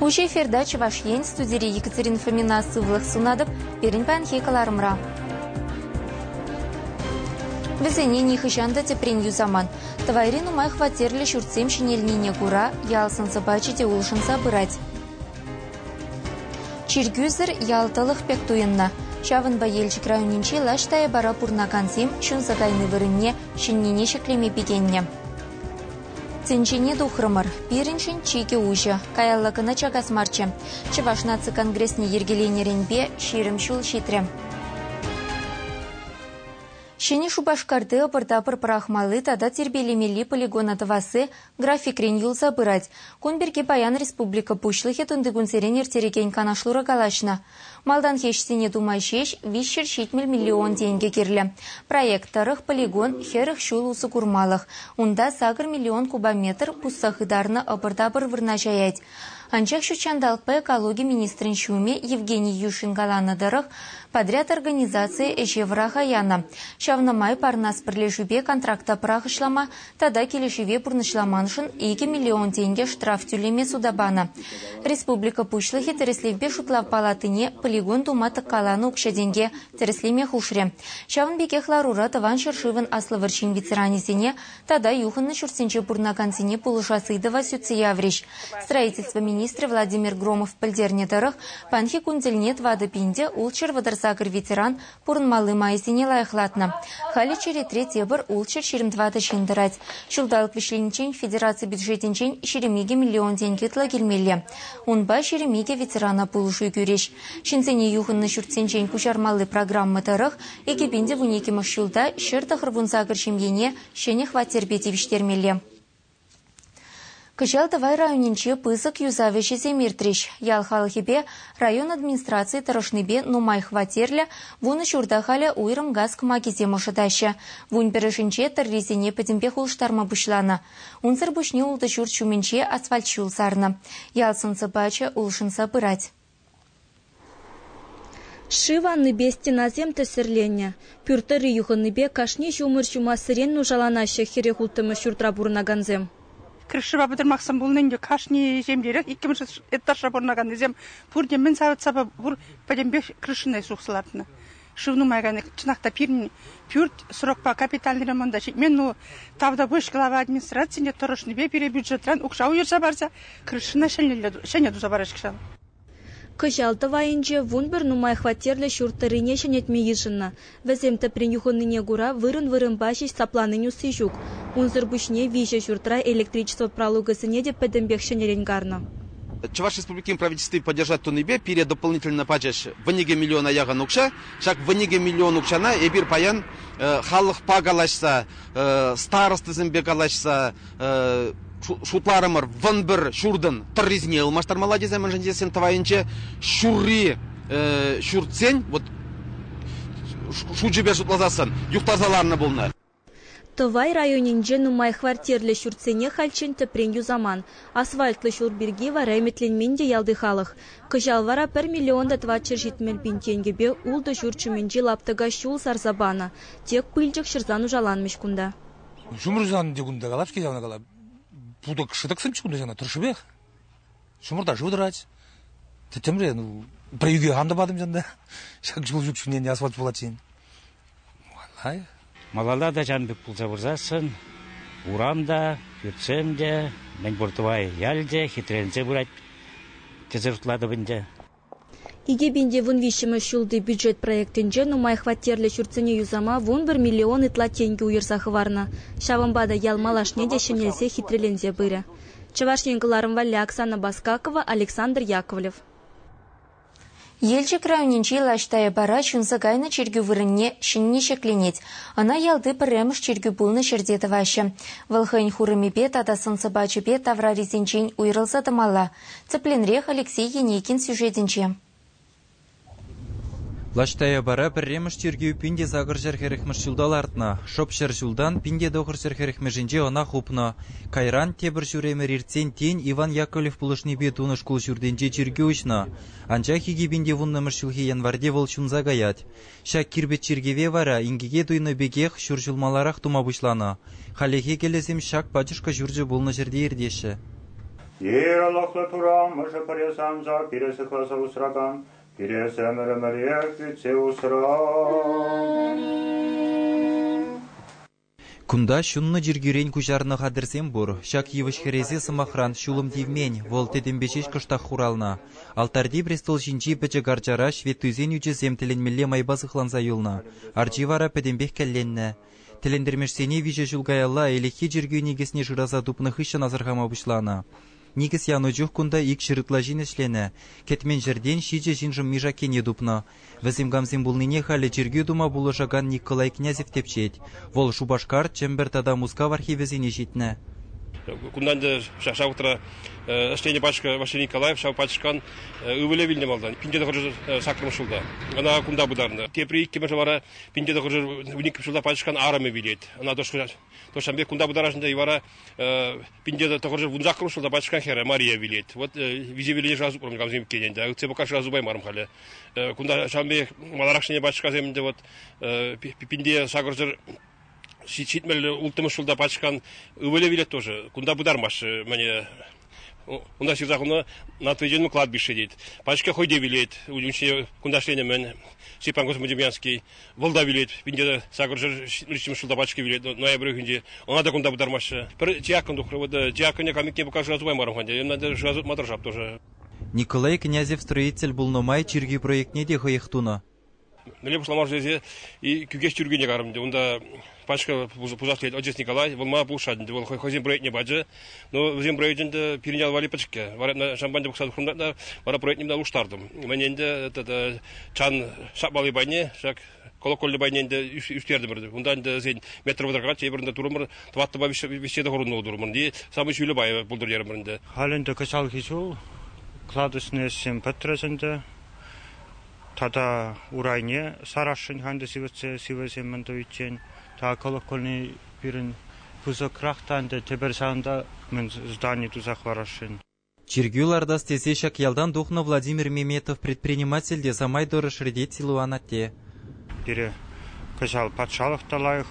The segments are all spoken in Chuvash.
Уҫӑ эфирта Чӑваш Ен студири Екатерина Фомина сывлӑх сунатӑп пирӗн паянхи кӑларӑмра. Вӗсене нихӑҫан та тӗпрен юсаман. Тӑвайри нумай хваттерлӗ ҫуртсем ҫӗнелнине кура ял сӑн-сӑпачӗ те улшӑнса пырать. Чиркӳсӗр ял тӑлӑх пек туйӑннӑ. Ҫавӑнпа Елчӗк районӗнчи лаҫ тайӑпара пурӑнакансем ҫунса кайни вырӑнне ҫӗннине ҫӗклеме пикеннӗ. Тӗнчене тухрӑмӑр. Пирӗншӗн чикӗ уҫӑ. Каялла кӑна чакас марччӗ. Чӑваш наци конгресне йӗркеленӗренпе ҫирӗм ҫул ҫитрӗ. Ҫӗнӗ Шупашкарти ӑпӑр-тапӑр пӑрахмалли тата тирпейлемелли полигона тӑвасси графикрен юлса пырать. Кун пирки паян республика Пуҫлӑхӗ тунтикунсерен ирттерекен канашлура калаҫнӑ. Малтанхи ӗҫсене тума ҫеҫ виҫҫӗр ҫитмӗл миллион тенкӗ кирлӗ. Проект тӑрӑх полигон хӗрӗх ҫул усӑ курмалӑх. Унта сакӑр миллион кубометр пусса хытарнӑ ӑпӑр-тапӑр вырнаҫаять. Анчах ҫутҫанталӑкпа экологи министрӗн ҫумӗ Евгений Юшин каланӑ тӑрӑх, подряд организацийӗ ӗҫе вӑраха янӑ. Ҫавна май Парнас пӗрлешӳпе контракта пӑрахӑҫлама тата килӗшӗве пурнӑҫламаншӑн икӗ миллион тенкӗ штраф тӳлеме суда панӑ. Республика Пуҫлӑхӗ тӗрӗслевпе шутлав палатине полигон тума тӑккаланӑ укҫа-тенке тӗрӗслеме хушрӗ. Ҫавӑн пекех ларура тӑван ҫӗршывӑн Аслӑ вӑрҫин ветеранӗсене тата юхӑннӑ ҫуртсенче пурӑнакансене пулӑшас ыйтӑва сӳтсе яврӗҫ. Строительство министрӗ Владимир Громов пӗлтернӗ тӑрӑх, паянхи кун тӗлне тӑватӑ пин те ултҫӗр вӑтӑр сакӑр ветеран пурӑнмалли майсене лайӑхлатнӑ. Халӗ черетре тепӗр ултҫӗр ҫирӗм тӑватӑ ҫын тӑрать. Ҫулталӑк вӗҫлениччен федераци бюджетӗнчен ҫирӗм икӗ миллион тенкӗ ытла килмелле. Унпа ҫирӗм икӗ ветерана пулӑшу кӳрӗҫ. Ҫынсене юхӑннӑ ҫуртсенчен куҫармалли программа тӑрӑх Экепенде вун иккӗмӗш ҫулта ҫӗр тӑхӑр вунсакӑр ҫемьене ҫӗнӗ хваттерпе тивӗҫтермелле. Кӑҫал Тӑвай районӗнче пысӑк юсав ӗҫӗсем иртрӗҫ. Ял халӑхӗпе район администрацийӗ тӑрӑшнипе нумай хваттерлӗ вунӑ ҫурта халӗ уйрӑм газ кӑмакисем ӑшӑтаҫҫӗ. Вун пӗрӗшӗнче тӑррисене пӗтӗмпех улӑштарма пуҫланӑ. Унсӑр пуҫне ултӑ ҫурт ҫумӗнче асфальт ҫул сарнӑ. Ял сӑн-сӑпачӗ улшӑнса пырать. Шыв аннипе стенасем тӗссӗрленнӗ, пӳрт тӑрри юхӑннипе кашни ҫумӑр ҫумассерен нушаланаҫҫӗ хӗре хулттӑмӗш ҫуртра пурӑнакансем. Крышӑпа пӑтӑрмахсем пулнин те кашни ҫемьерех иккӗмӗш этажра пурӑнаканнисем пурте мӗн савӑт-сапа пур пӗтӗмпех крышӑна сухса лартнӑ. Шыв нумайран чӑнах та пирӗн пӳрт срокпа капитальный ремонта ҫитмен. Ну, тавтапуҫ глава администрацине тӑрӑшнипе пире бюджетран укҫа уйӑрса парса крышӑна ҫӗнӗ туса параҫҫӗ ҫав. Кӑҫал тӑвайӗнче вун пӗр нумай хваттерлӗ ҫурт тӑррине ҫӗнетме йышӑннӑ. Вӗсем тӗпрен юхӑннине кура вырӑн-вырӑнпа ҫеҫ сапланин усси ҫук. Унсӑр пуҫне виҫӗ ҫуртра электричество пралукӗсене те пӗтӗмпех ҫӗнӗрен карнӑ. Чӑваш Республикин Правительстви поддержать тунипе пире дополнительно пачӗҫ вӗникӗ миллиона яхӑн укҫа. Ҫак вӗникӗ миллион укҫана эпир паян халӑхпа калаҫса, старостӑсемпе калаҫса шутларӑмӑр вӑн пӗр ҫуртӑн тӑррисене ылмаштармалла тесе, мӗншӗн тесен тӑвайӗнче ҫурри ҫуртсен вот шучӗпе шутласассӑн юхтарса ларнӑ пулнӑ. Тӑвай районӗнче нумай хваттерлӗ ҫуртсене хальччен тӗпрен юсаман. Асфальтлӑ ҫул пирки вара ӗмӗтленмен те ялти халӑх. Кӑҫал вара пӗр миллион та тӑватҫӗр ҫитмӗл пин тенкӗпе ултӑ ҫурт ҫумӗнчи лаптӑка ҫул сарса панӑ. Тек пылчӑк ҫӑрса нушаланмӗҫ кунта. Ҫумӑрсанӑ кунта калать-ҫке ҫавна кала. Путӑк шӑтӑксенче кунта ҫавна тӑршшӗпех. Ҫумӑрта шыв тӑрать. Тӗттӗмре, ну, про юге ан тӑватӑм ҫынна. Ҫак ҫул ҫук ҫумненне асфальт пулать ҫын. Малай? Малалла тачан пек пулса вырсассӑн урам та, пӳртсем те, мӗнпур Тӑвай ял те хитренсе пырать. Тӗсӗртлатӑп ӗнтӗ. Икӗ пин те вун виҫҫӗмӗш ҫулти бюджет проектӗнче нумай хваттерлӗ ҫуртсене юсама вун пӗр миллион ытла тенкӗ уйӑрса хӑварнӑ. Ҫавӑнпа та ял малашне те ҫӗнелсе, хитреленсе пырӗ. Чӑваш Ен кӑларӑм валли Оксана Баскакова, Александр Яковлев. Елчӗк районӗнчи Лаш Таяпара ҫунса кайнӑ чиркӳ вырӑнне ҫӗнни ҫӗкленет. Ӑна ялти пӗрремӗш чиркӳ пулнӑ ҫӗрте тӑваҫҫӗ. Вӑл хӑйӗн хурӑмӗпе тата сӑн-сӑпачӗпе таврарисенчен уйрӑлса тӑмалла. Тӗплӗнрех Алексей Енейкин сюжетӗнче. Лаш Таяпара пӗрремӗш чиркӳ пин те сакӑр ҫӗр хӗрӗхмӗш ҫулта лартнӑ. Шӑп ҫӗр ҫултан пин те тӑхӑр ҫӗр хӗрӗхмӗшӗнче ӑна хупнӑ. Кайран тепӗр ҫур ӗмӗр иртсен тен Иван Яковлев пулӑшнипе тунӑ шкул ҫуртӗнче чиркӳ уҫнӑ, анчах икӗ пин те вуннӑмӗш ҫулхи январьте вӑл ҫунса каять. Ҫак кирпӗч чиркӗве вара инкеке туйнӑ пекех ҫур ҫул маларах тума пуҫланӑ. Хальлӗхе кӗлӗсем ҫак пачӑшкӑ ҫурчӗ пулнӑ ҫӗрте иртеҫҫӗ. Иерологлӑ тура мӑшӑ пӗре санса пире сыхласа усракан, пире ӗмӗр ӗмӗрех ӳтсе усран. Кунта ҫуннӑ чиркӳрен куҫарнӑ хатӗрсем пур. Ҫак йывӑҫ хӗресе, сӑмахран, ҫулӑм тивмен, вӑл тӗтӗмпе ҫеҫ кӑштах хуралнӑ. Алтарти престол ҫинчи пӗчӗк арчара ҫветтуйсен ӳчӗсем тӗлӗнмелле майпа сыхланса юлнӑ, арчи вара пӗтӗмпех кӗлленнӗ. Тӗлӗнтермешсене виҫӗ ҫул каялла ӗлӗкхи чиркӳ никӗсне шыраса тупнӑ хыҫҫӑн асӑрхама пуҫланӑ. Никӗс янӑ чух кунта икҫӗр ытла ҫын ӗҫленӗ, кӗтмен ҫӗртен ҫичӗ ҫыншӑн мешаккене тупнӑ, Вӗсем камсем пулнине халӗ чиркӳ тума пулӑшакан Николай Князев тӗпчет. Вӑл Шупашкар, Чӗмпӗр тата Мускав архивӗсене ҫитнӗ. Кунтан та ҫак вӑхӑтра ӗҫленӗ пачка Василий Николаев ҫав пачкан ывӑлӗ вилнӗ малтан пин тӑхӑр саккӑрмӗш ҫулта. Ӑна кунта пытарнӑ. Тепри иккӗмӗшӗ вара пин тӑхӑр вун иккӗмӗш ҫулта пачкан арӑмӗ вилет. Ӑна тӑшкӑ То ҫавӑн пек кунта пытарашнӑ вара пинте тӑхӑрҫӑ вунсаккӑрмӗш ҫулта пачка хӗрӗ Мария вилет. Вот висе виле шасупран камсем иккен ӗнтӗ. Ытсе пока шасупаймарӑм халӗ. Кунта ҫавӑн пек маларахшине пачкасем ӗнтӗ вот пинте сакӑрсӑр ҫитмелле улттӑмӗш ҫулта пачкан ывӑлӗ вилет тоже. Кунта пытармаҫҫӗ мӗне Унта ҫырса хунӑ Натриджен кладбище тет. Пачка хӑйте вилет, унӑн ҫине кунташленӗ-мӗн. Степан Космодемьянский вӑл та вилет, пинте сакӑршар ҫырчӑм шулта пачка вилет, ноябрь уйӑхӗнче. Ӑна та кунта пытармаҫҫӗ. Пӗр диакон тухрӗ, вот диаконе камикне пока шыраса тупаймарӑм хан, ӑна та шыраса тупматӑр шап тоже. Николай Князев строитель пулнӑ май чиркӳ проектне те хӑех тунӑ. мӗнле пуҫламашӗ тесе Кӳкеҫ Тӳркине карӑм ӗнтӗ. Унта пачка пусас тет, отец Николай, вӑл ма пулӑшать ӗнтӗ, вӑл хӑйсен проектне пачӗ. Но вӗсен проекчӗ ӗнтӗ пирӗн ял валли пӗчӗккӗ. Вара шампанье пухса хурнатна, вара проектне мына улӑштартӑм. Мӗн ӗнтӗ чан шапмалли пайне, ҫак колокольлі пайне ӗнтӗ ӳстертӗмӗр. Унта ӗнтӗ сен метр вӑтӑркаччӗ, эпир ӗнтӗ турӑмӑр, тӑваттӑпа виҫсе те хурӑнлӑ турмӑр. И самый ҫӳллӗ пайӗ пултыртерӗмӗр ӗнтӗ. Халь ӗнтӗ кӑҫалхи ҫул кладочный ӗҫсем пӗтрӗҫ ӗнтӗ. Тата урайне сарасшӑн ӗнтӗ сивӗтсе сивӗсем мӗн тӑвиччен. Тата колокольни пирӗн пысӑкрах та ӗнтӗ, тепӗр ҫавӑнта мӗн здани туса хӑварасшӑн. Чиркӳ лартас тесе ҫак ялтан тухнӑ Владимир Меметов предприниматель те самай тӑрӑш ретет Силуан атте. Пире кӑҫал патшалӑх та лайӑх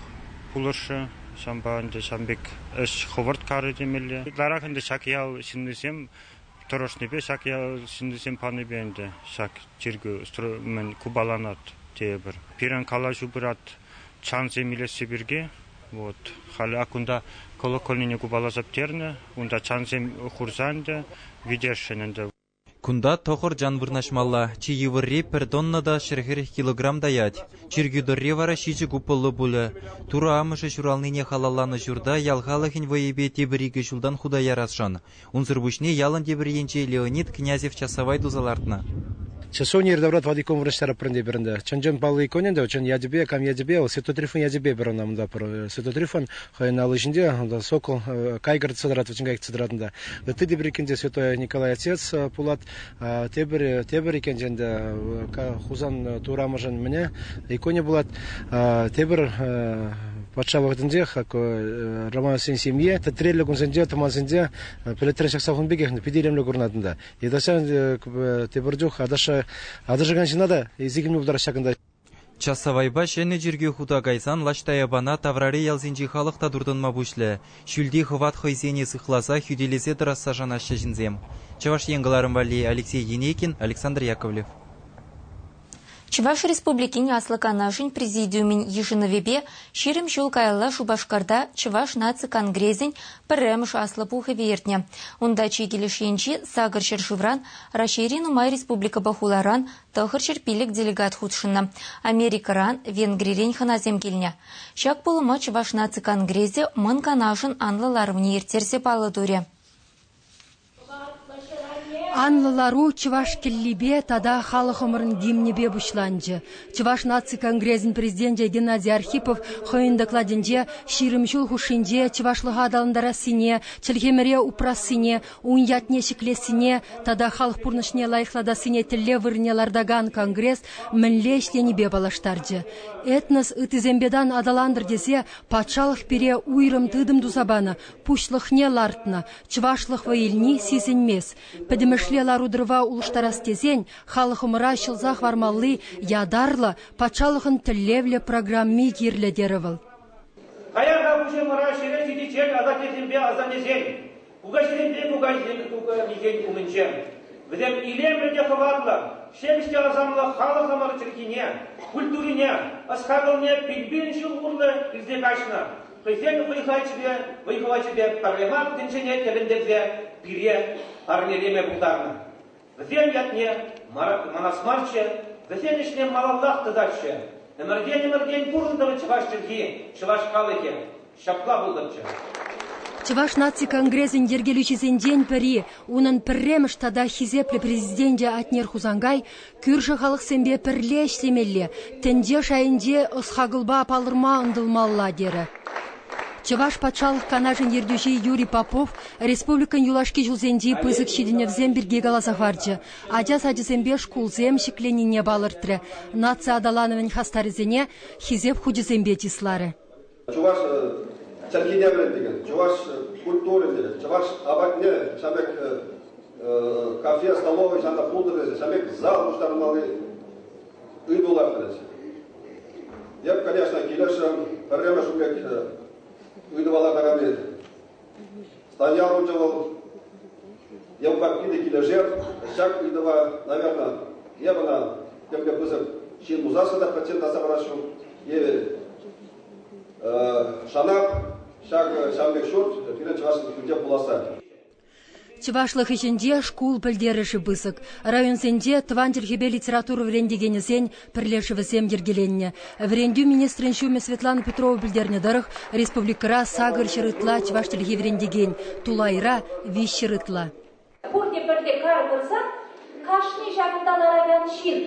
пулӑшрӗ. Ҫавӑнпа ӗнтӗ ҫан пек ӗҫ хӑвӑрт карӗ темелле. Ытларах ӗнтӗ ҫак ял ҫыннисем Тӑрӑшнипе ҫак ял ҫыннисем панипе ӗнтӗ ҫак чиркӳ купаланать тейӗпӗр. Пирӗн калаҫу пырать чансем илесси пирки. Вот. Халӗ ак унта колокольнине купаласа пӗтернӗ. Унта чансем хурса ӗнтӗ витесшӗн ӗнтӗ. Кунта тӑхӑр чан вырнаҫмалла. Чи йывӑрри пӗр тонна та ҫӗр-хӗрех килограмм таять. Чиркӳ тӑрри вара ҫичӗ купӑллӑ пулӗ. Турӑ амӑшӗ ҫуралнине халалланӑ ҫурта ял халӑхӗн вӑйӗпе тепӗр икӗ ҫултан хута ярасшӑн. Унсӑр пуҫне ялӑн тепӗр енче Леонид Князев часавай туса лартнӑ. Часовня Иртаврат Вадиков вырӑҫтарап пӗринпе пӗринпе. Чӑн-чӑн паллӑ икон ӗнтӗ, чӑн ячӗпе, кам ячӗпе, вӑл Святотрифӑн ячӗпе пӗр ӑна унта пӗр Святотрифӑн хӑйӗн алли ҫинче, унта сокол, кайгӑр цедрат, вӗчӗн кайӑк цедратӑн та. Ытти те пӗр иккӗн те святой Николай Отец пулат. Тепӗр, тепӗр иккен ӗнтӗ Хусан турамӑшӗн мӗне иконӗ пулать. Тепӗр патша вӑхӑтӗнчех Романовсен семье тӗтреллӗ кунсенче, тӑмансенче пӗлӗтре ҫакса хун пекех питӗ илемлӗ курӑнатӑн та. Йытӑсем тепӗр чух аташа, аташакан ҫына та сикӗнме пултараҫҫӗ ҫакӑнта. Часавайпа ҫӗнӗ чиркӳ хута кайсан Лаҫтаяпана таврари ялсенчи халӑх та туртӑнма пуҫлӗ. Ҫӳлти хӑват хӑйсене сыхласа, хӳтӗлесе тӑрасса шанаҫҫӗ ҫынсем. Чӑваш Ен кӑларӑм валли Алексей Енейкин, Александр Яковлев. Чӑваш Республикин Аслӑ Канашӗн Президиумӗн йышӑнӑвӗпе ҫирӗм ҫул каялла Шупашкарта Чӑваш наци конгресӗн пӗрремӗш Аслӑ Пухӑвӗ иртнӗ. Унта чи килӗш енчи сакӑр ҫӗршывран, Раҫҫейри нумай республикӑпа хуларан, Тӑхӑрҫӗр пилӗк делегат хутшӑннӑ. Америкӑран, Венгрирен хӑнасем килнӗ. Ҫак пулӑма Чӑваш наци конгресӗ Мӑн Канашӑн анлӑ ларӑвне ирттерсе паллӑ турӗ. Анлӑ лару чӑваш кӗллипе тата халӑхӑмӑрӑн гимнӗпе пуҫланчӗ. Чӑваш наци конгресӗн президенчӗ Геннадий Архипов хӑйӗн докладӗнче ҫирӗм ҫул хушшинче чӑвашлӑха аталантарассине, чӗлхемӗре упрассине, Ун ятне ҫӗклессине тата халӑх пурнӑҫне лайӑхлатассине тӗллев вырӑнне лартакан конгресс мӗнле ӗҫленипе паллаштарчӗ. Этнос ыттисемпе тан аталантӑр тесе патшалӑх пире уйрӑм тытӑм туса панӑ, пуҫлӑхне лартнӑ, чӑвашлӑх вӑй илни сисӗнмест. Пӗтӗмӗшле лару-тӑрӑва улӑштарас тесен халӑхӑмӑра ҫӑлса хӑвармалли ятарлӑ патшалӑхӑн тӗллевлӗ программи кирлӗ, терӗ вӑл. Паян та пуҫӑмӑра ҫӗре ҫитиччен асаттесемпе асаннесен Кукаҫинпе кукаҫин кукамисен умӗнче. Вӗсем илемлӗ те хӑватлӑ, ҫепӗҫ те асамлӑ халӑхӑмӑр чӗлхине, культурине, ӑс-хакӑлне пин-пин ҫул урлӑ илсе каҫнӑ. Хӑйсен вӑй-хачӗпе, вӑй-хӑвачӗпе пӗрремах тӗнчене тӗлӗнтерсе пире парнелеме пултарнӑ. Вӗсем ятне манас марччӗ, вӗсен ӗҫне малаллах тытатчӗ. Ӗмӗртен-ӗмӗртен пурӑнтӑмӑр чӑваш чӗлхи, чӑваш халӑхӗ. Ҫапла пултӑмччӗ. Чӑваш наци конгресӗн йӗркелӳҫисенчен пӗри, унӑн пӗрремӗш тата хисеплӗ президенчӗ Атнер Хусанкай кӳршӗ халӑхсемпе пӗрле ӗҫлемелле, тӗнче шайӗнче ӑс-хакӑлпа палӑрма ӑнтӑлмалла, терӗ. Чӑваш Патшалӑх Канашӗн ертӳҫи Юрий Попов республикӑн юлашки ҫулсенчи пысӑк ҫитӗнӗвсем пирки каласа хӑварчӗ, ача сачӗсемпе шкулсем ҫӗкленнине палӑртрӗ, наци аталанӑвӗн хастарӗсене Хисеп хучӗсемпе чысларӗ. Чӑваш чӗлхине вӗрентекен, чӑваш культурине, чӑваш апатне ҫамрӑк кафе, столовӑй ҫанта пултӑрӗ, ҫамрӑк зал пуҫтармалли ыйтулах тӑрӗҫ. Эп, конечно, килӗшрӗм, пӗрремӗш укҫа ыйтӑвала карами. Статья хучӗ вӑл, йӑл папки те килӗшер, ҫак ыйтӑва, наверное, эп ӑна тӗплӗ пысӑк ҫын пулсассӑн та процент аса парасшӑн евӗр. Шанап ҫак ҫан пек ҫурт пирӗн чӑваш килте пуласса Чӑвашлӑх ӗҫӗнче шкул пӗлтерӗшӗ пысӑк. Районсенче тӑван чӗлхепе литература вӗрентекенӗсен пӗрлешӗвӗсем йӗркеленнӗ. Вӗрентӳ министрӗн ҫумӗ Светлана Петрова пӗлтернӗ тӑрӑх, республикӑра сакӑр ҫӗр ытла чӑваш чӗлхи вӗрентекен, тулайра виҫ ҫӗр ытла. Пурте пӗрте кар пырсан кашни ҫакӑнта ларакан ҫын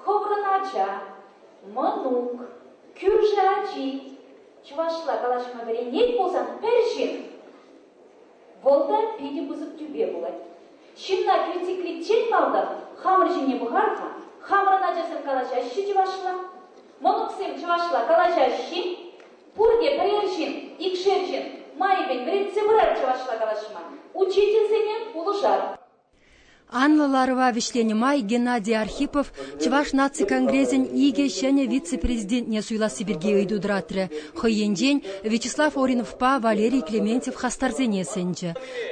хӑвӑрӑн ача, мӑнук, кӳршӗ ачи, чӑвашла калаҫма вӗренет пулсан пӗр ҫын, вӑл та питӗ пысӑк тӳпе пулать. Ҫынна критикличчен малтан хамӑр ҫине пӑхар-ха, хамӑрӑн ачасем калаҫаҫҫӗ чӑвашла, мӑнуксем чӑвашла калаҫаҫҫӗ, пурте пӗрер ҫын, икшер ҫын майӗпен вӗрентсе пырар чӑвашла калаҫма, учительсене пулӑшар. Анлӑ ларӑва вӗҫленӗ май Геннадий Архипов Чӑваш наци конгресӗн икӗ ҫӗнӗ вице-президентне суйласси пирки ыйту тӑратрӗ. Хӑй енчен Вячеслав Ориновпа Валерий Клементьев хастарсене сӗнчӗ.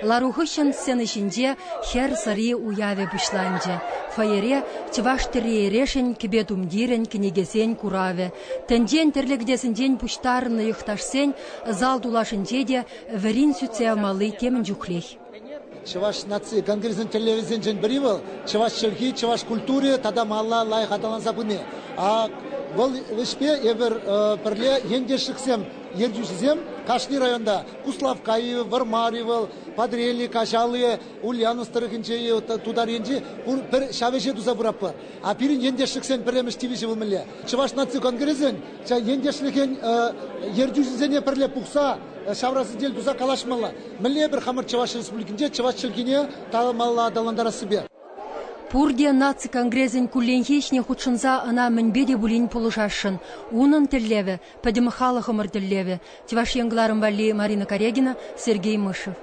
Лару хыҫҫӑн сцена ҫинче хӗр сӑри уявӗ пуҫланчӗ. Фойере чӑваш тӗрри-эрешӗн, кӗпе-тумтирӗн, кӗнекесен куравӗ, тӗнчен тӗрлӗ кӗтесӗнчен пуҫтарӑннӑ йӑхташсен зал тулашӗнче те вӗрин сӳтсе явмалли темӗн чухлех. Чӑваш наци конгресӗн тӗллевӗсенчен пӗри вӑл чӑваш чӗлхи, чӑваш культури тата малла лайӑх аталанса пыни. Вӑл ӗҫпе эпир пӗрле ентешлӗхсем, ертӳҫӗсем кашни районта Куславкка-и, Вӑрмар-и вӑл, Патрелли, Каҫал-и, Ульяновск тӑрӑхӗнче-и, Тутар енчи пӗр ҫав ӗҫе туса пыратпӑр. А пирӗн ентешлӗхсен пӗрремӗш тивӗҫӗ вӑл мӗнле? Чӑваш наци конгресӗн ентешлӗхӗн ертӳҫисене пӗрле пухса ҫавра сӗтел туса калаҫмалла. Мӗнле эпир хамӑр Чӑваш Республикинче чӑваш чӗлхине талӑмалла аталантарассипе? Пурте наци конгресӗн кулленхи ӗҫне хутшӑнса ӑна мӗнпе те пулин пулӑшасшӑн. Унӑн тӗллевӗ, пӗтӗм халӑхӑмӑр тӗллевӗ, Чӑваш Ен кӑларӑм валли Марина Карегина, Сергей Мышев.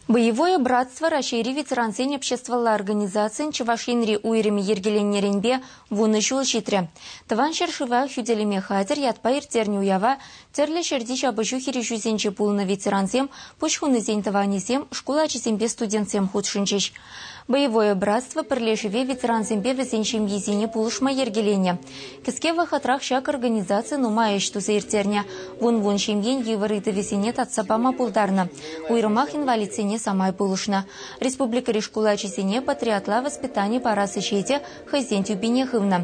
Боевое братство Раҫҫейри ветерансен обществӑлла организацийӗн Чӑваш Енри уйрӑмӗ йӗркеленнӗренпе вунӑ ҫул ҫитрӗ. Тӑван ҫӗршыва хӳтӗлеме хатӗр ятпа ирттернӗ уява тӗрлӗ ҫӗрти ҫапӑҫу хирӗҫӳсенче пулнӑ ветерансем, пуҫ хунисен тӑванӗсем, шкул ачисемпе студентсем хутшӑнчӗҫ. Боевое братство пӗрлешӗве ветерансемпе вӗсен ҫемйисене пулӑшма йӗркеленӗ. Кӗске вӑхӑтрах ҫак организаци нумай ӗҫ туса ирттернӗ, вун-вун ҫемьен йывӑр ыйтӑвӗсене татса пама пултарнӑ. Уйрӑмах инвалидсене самай пулӑшнӑ. Республикӑри шкул ачисене патриотла воспитани парас ӗҫе те хӑйсен тӳпине хывнӑ.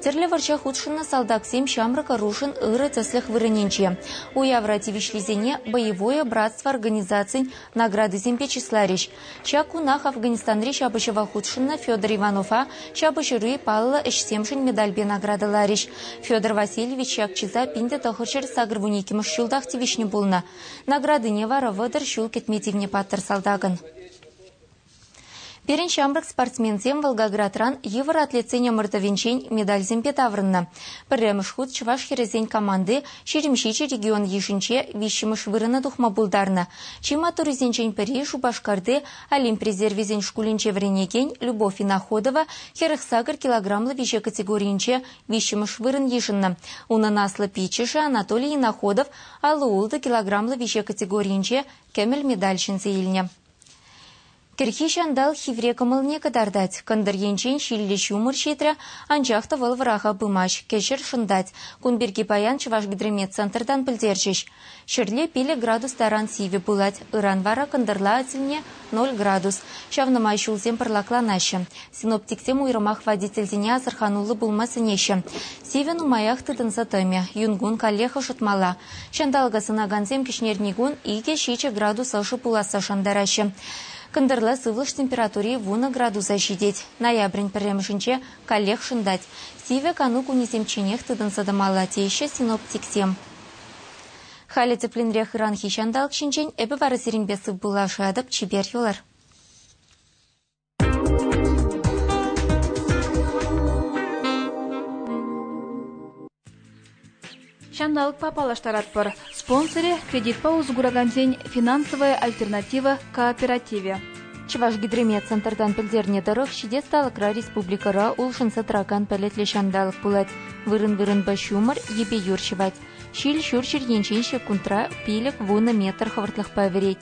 Тӗрлӗ вӑрҫа хутшӑннӑ салтаксем ҫамрӑк ӑрушӑн ырӑ тӗслӗх вырӑнӗнче. Уявра тивӗҫлисене Боевое братство организацин наградисемпе чысларӗҫ. Ҫак кунах Афганистанри ҫапӑҫӑва хутшӑннӑ Федор Иванова ҫапӑҫури паллӑ ӗҫсемшӗн медальпе наградӑларӗҫ. Федор Васильевич ҫак чыса пин те тӑхӑрҫӗр сакӑрвун иккӗмӗш ҫултах тивӗҫнӗ пулнӑ. Наградине вара вӑтӑр ҫул кӗтме тивнӗ паттӑр салтакӑн. Пирӗн ҫамрӑк спортсменсем Волгоградран йывӑр атлетсен ӑмӑртӑвӗнчен медальсемпе таврӑннӑ. Пӗрремӗш хут чӑваш хӗрӗсен команди Ҫирӗмҫичӗ регион йышӗнче виҫҫӗмӗш вырӑна тухма пултарнӑ. Чи маттуррисенчен пӗри Шупашкарти Олимп резервӗсен шкулӗнче вӗренекен Любовь Иноходова хӗрӗх сакӑр килограмлӑ виҫе категорийӗнче виҫҫӗмӗш вырӑн йышӑннӑ. Унӑн аслӑ пиччӗшӗ Анатолий Иноходов алӑ-ултӑ килограмлӑ виҫе категорийӗнче кӗмӗл медаль ҫӗнсе илнӗ. Кӗрхи ҫантал хивре кӑмӑлне кӑтартать. Кӑнтӑр енчен ҫиллӗ ҫумӑр ҫитрӗ, анчах та вӑл вӑраха пымасть, кӗҫӗр шӑнтать. Кун пирки паян Чӑвашгидрометцентртан пӗлтерчӗҫ. Ҫӗрле пилӗк градус таран сивӗ пылать, ыран вара кӑнтӑрла тӗлне ноль градус. Ҫавна май ҫулсем пӑрлакланаҫҫӗ. Синоптиксем уйрӑмах водительсене асӑрхануллӑ пулма сӗнеҫҫӗ. Сивӗ нумаях тытӑнса тӑмӗ, юн кун каллех ӑшӑтмалла. Ҫанталӑка сӑнакансем кӗҫнерни кун икӗ-ҫичӗ градус ӑшӑ пуласса шантараҫҫӗ. Кӑнтӑрла сывлӑш температури вунӑ градуса ҫитет. Ноябрӗн пӗрремӗшӗнче каллех шӑнтать. Сивӗ кану кунӗсемчченех тытӑнса тӑмалла, теҫҫӗ синоптиксем. Халӗ тӗплӗнрех ыранхи ҫанталӑк ҫинчен эпӗ вара сирӗнпе сывпуллашатӑп. Чипер юлар. Ҫанталӑкпа паллаштаратпӑр. Спонсорӗ – кредитпа усӑ куракансен финансовая альтернатива кооперативӗ. Чӑвашгидромет центртан пӗлтернӗ тӑрӑх, ҫитес талӑкра республикӑра улшӑнса тӑракан пӗлӗтлӗ ҫанталӑк пулать. Вырӑн-вырӑнпа ҫумӑр, йӗпе юр ҫӑвать. Ҫил ҫурҫӗр енчен ҫеккунтра пилӗк-вунӑ метр хӑвӑртлӑхпа вӗрет.